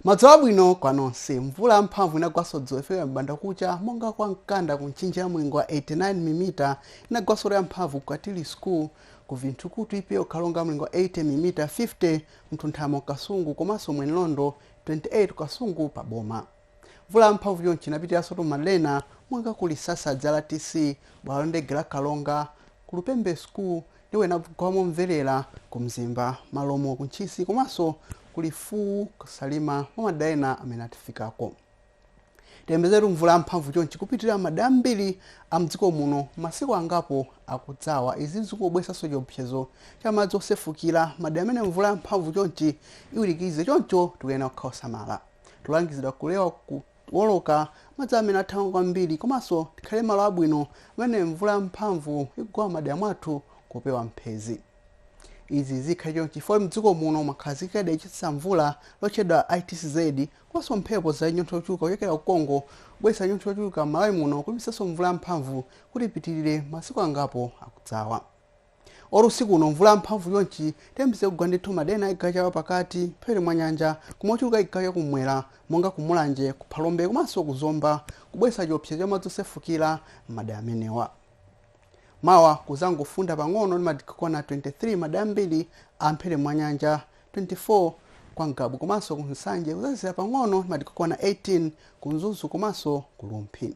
madzulo abwino kwa nonse mvula yamphamvu inagwaso dzulo kufika m'banda kucha monga kwa mkanda ku mchinji ya mlingo wa 89 milimita inagwasotu yamphamvu ku katili school ku vinthukutu epa ku karonga mlingo wa 80 milimita 50 ku mtunthama ku kasungu komanso mwenilondo 28 kasungu pa boma Mvula yamphamvu chonchi inapitiransotu m'madera ena monga ku Lisasadzi RTC, bwalo la ndege la Karonga, ku Lupembe school ndipo inagwa momverera ku Mzimba, Malomo, ku Ntchisi komanso ku Lifuwu, ku Salima mwa madera ena amene atifikako. Tiyembekezeretu mvula yamphamvu chonchi kupitirira m'madera ambiri a m'dziko muno m'masiku angapo akudzawa. Izi zikungobweretsanso chiopsezo cha madzi osefukira m'madera amene mvula yamphamvu chonchi iwirikize choncho tikuyenera kukhala osamala. Tikulangizidwa kulewa kuwoloka madzi amene akuthamanga kwambiri komanso tikhale m'malo abwino pamene mvula yamphamvu ikugwa m'madera mwathu kupewa mphezi. Izi zikhale chonchi chifukwa m'dziko muno mwakhazikika dera lochititsa mvula lotchedwa ITCZ komanso mphepo za chinyontho chochuluka kuchokera ku Congo kubweretsa chinyontho chochuluka m'Malawi muno kulimbikitsanso mvula yamphamvu kuti ipitirire masiku angapo akudzawa. Olo usiku uno mvula yamphamvu chonchi tiyembekeze kugwa ndithu m'madera ena achigawo cha pakati, mphepete mwa nyanja koma ochuluka achigawo cha kum'mwera monga ku Mulanje, ku Phalombe komanso ku Zomba kubweretsa chiopsezo cha madzi osefukira m'madera amenewa. Mawa kudzangofunda pang'ono ndi madigiri okwana 23 m'madera ambiri a mphepete mwa nyanja, 24 kwa Ngabu komanso ku Nsanje, kudzazizira pang'ono ndi madigiri okwana 18 ku Mzuzu komanso ku Rumphi.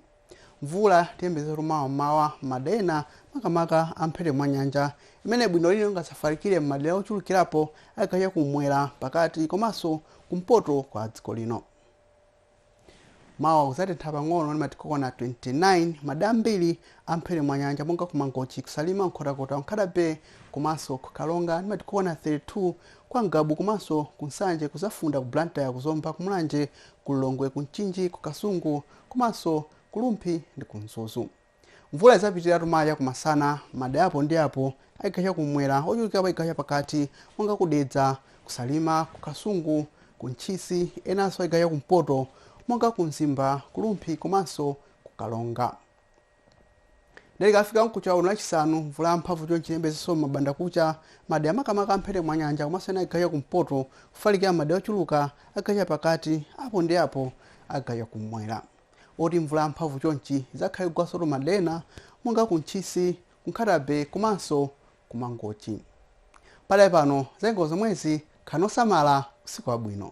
Mvula tiyembekezetu mawa m'mawa m'madera ena makamaka a mphepete mwa nyanja imene bwino lino ingadzafalikire m'madera ochulukirapo a chigawo cha kummwera, pakati komanso kumpoto kwa dziko lino. Mawa kudzatentha pang'ono ndi madigiri okwana 29 m'madera ambiri a mphepete mwa nyanja monga ku Mangochi, ku Salima, Nkhotakota, ku Nkhata Bay komanso ku Karonga ndi madigiri okwana 32, kwa Ngabu komanso ku Nsanje kudzafunda, ku Blantyre, ku Zomba, ku Mulanje, ku Lilongwe, ku Mchinji, ku Kasungu, komanso ku Rumphi ndi ku Mzuzu. Mvula idzapitiriretu mawa chakumasana m'madera apo ndi apo a chigawo chakumwera, ochulukirapo a chigawo chapakati monga ku Dedza, ku Salima, ku Kasungu, ku Ntchisi, enanso a chigawo chakumpoto monga ku Mzimba, ku Rumphi komanso ku Karonga. Dere kafika mkucha uno lachisanu mvula yamphamvu chonchi tiyembekezeso m'banda kucha m'madera makamaka amphete mwa nyanja komanso ena achigawo cha kumpoto kufalikira m'madera ochuluka achigawo cha pakati apo ndi apo achigawo cha kummwera oti mvula yamphamvu chonchi izakhale ikugwasotu m'madera ena monga ku ntchisi ku nkhata bay komanso ku mangochi pakadali pano zanyengo zomwezi khalani osamala usiku wabwino